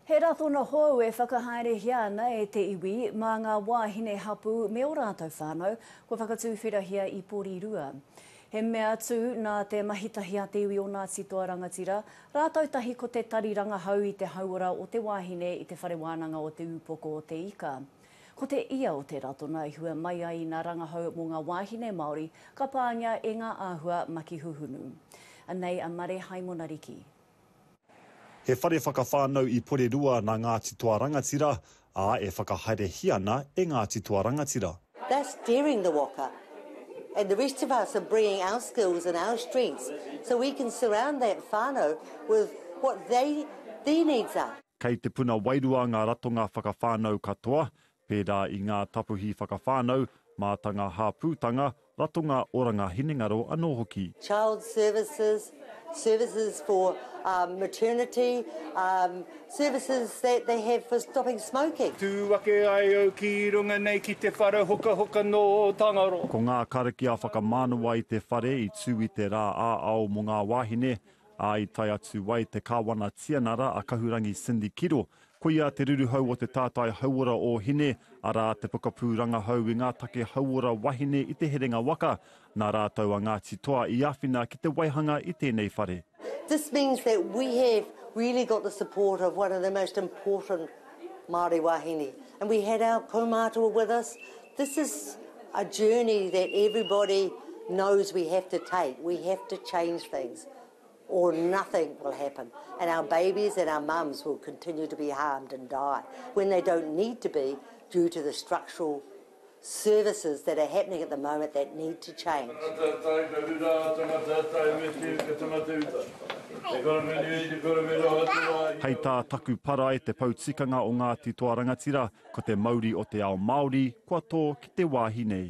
He ratona hou e whakahaerehia ana e te iwi mā ngā wāhine hapū me ō rātou whānau kua whakatūwhirahia i Porirua. He mea tū nā te mahitahi a te iwi o Ngāti Toa Rangatira rātou tahi ko te tari rangahau i te hauora o te wāhine i te Whare Wānanga o Te Ūpoko o te Ika. Ko te ia o te ratona i hua mai ai nā rangahau mō ngā wāhine Māori ka pāngia e ngā āhua makihuhunu. Anei a Mare Haimona Riki. He whare whakawhānau i Porirua nā Ngāti Toa Rangatira, ā, e whakahaerehia ana e Ngāti Toa Rangatira. They're steering the waka and the rest of us are bringing our skills and our strengths so we can surround that whānau with what they, their needs are. Kei te puna wairua ngā ratonga whakawhānau katoa, pērā i ngā tapuhi whakawhānau, mātanga hāpūtanga, ratonga oranga hinengaro anō hoki. Child services, services for maternity, services that they have for stopping smoking. Tū ake ai au ki runga nei ki te whare hokahoka nō Tangaroa. Ko ngā karakia whakamanawa i te whare i tū i te rā ā-ao mō ngā wāhine, ā, i tae atu ai te Kāwana Tianara a Kahurangi Cindy Kiro Koia te ruruhau o te tātai hauora o Hine, arā, te pokapū rangahau i ngā take hauora wahine i Te Herenga Waka, nā rātou a Ngāti Toa i āwhina ki te waihanga i tēnei whare. This means that we have really got the support of one of the most important Māori wāhine and we had our kaumātua with us. This is a journey that everybody knows we have to take, we have to change things. or nothing will happen and our babies and our mums will continue to be harmed and die when they don't need to be due to the structural services that are happening at the moment that need to change. Tangata tae, ka rura a tangata tae, me tiu ka tangata uta. Te korowheni nei, te korowheni o Aotearoa i. Hei tā taku para e te pou tikanga o Ngāti Toa Rangatira, ko te mauri o te ao Māori, kua tō ki te wāhi nei.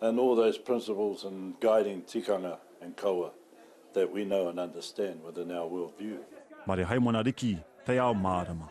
and all those principles and guiding tikanga and kawa that we know and understand within our world view. Mare Haimana Riki, Te Ao Mārama.